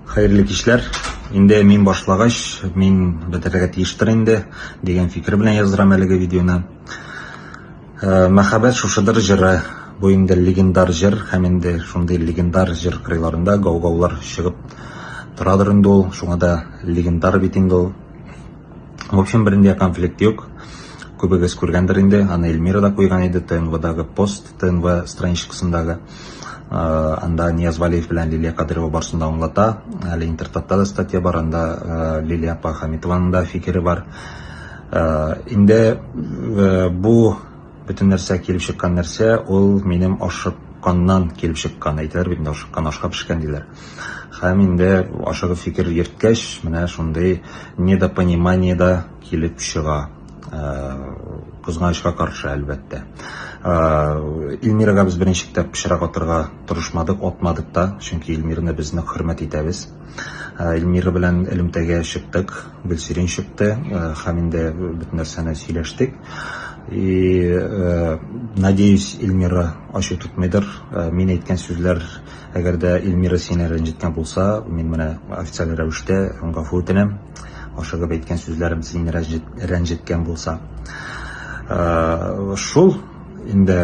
Хәерле кичләр. Инде мин башлагач, мин бетерергә тиештер инде, дигән фикер белән яздырам әлеге видеоны. Э, Мәхәббәт шушыдыр җыры. Бу инде легендар җыр һәм инде шундый легендар җыр кырыйларында гау-гаулар чыгып торадыр инде ул. Шуңа да легендар бит инде ул. В общем, бернинди конфликт юк. Күбегез күргәндер инде, аны Эльмира да куйган иде ТНВдагы пост, ТНВ страничкасындагы. Анда Нияз Вәлиев белән Лилия Кадыйрова барысын да аңлата. Әле интертатта да статья бар, анда Лилия апа Хәмитованың да фикере бар. Инде бу бөтен нәрсә килеп чыккан нәрсә, ул минем ашыкканнан килеп чыккан. Әйтәләр бит инде ашыккан ашка пешкән диләр. Һәм инде ашыгып фикер йөрткәч, менә шундый недопонимание да килеп чыга. Кызганычка каршы, әлбәттә. Илмирага без беренче китап пычрак атырга тырышмадык, атмадык та, чөнки Илмирны без нык хөрмәт итәбез. Илмира белән элемтәгә чыктык, Гөлсирин чыкты һәм инде бөтен нәрсәне сөйләштек. И надеюсь, Илмира ачу тотмыйдыр. Мин әйткән сүзләр, әгәр дә Илмира сине рәнҗеткән булса, мин менә официаль рәвештә гафу үтенәм. Ашыгып әйткән сүзләрем сине рәнҗеткән булса. Шул инде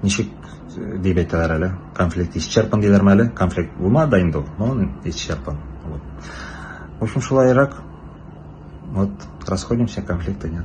ничек дип әйтәләр әле, конфликт исчерпан диләрме әле? Конфликт булмады да инде ул, но он исчерпан. Вот. В общем, шулайрак. Вот, расходимся, конфликта нет.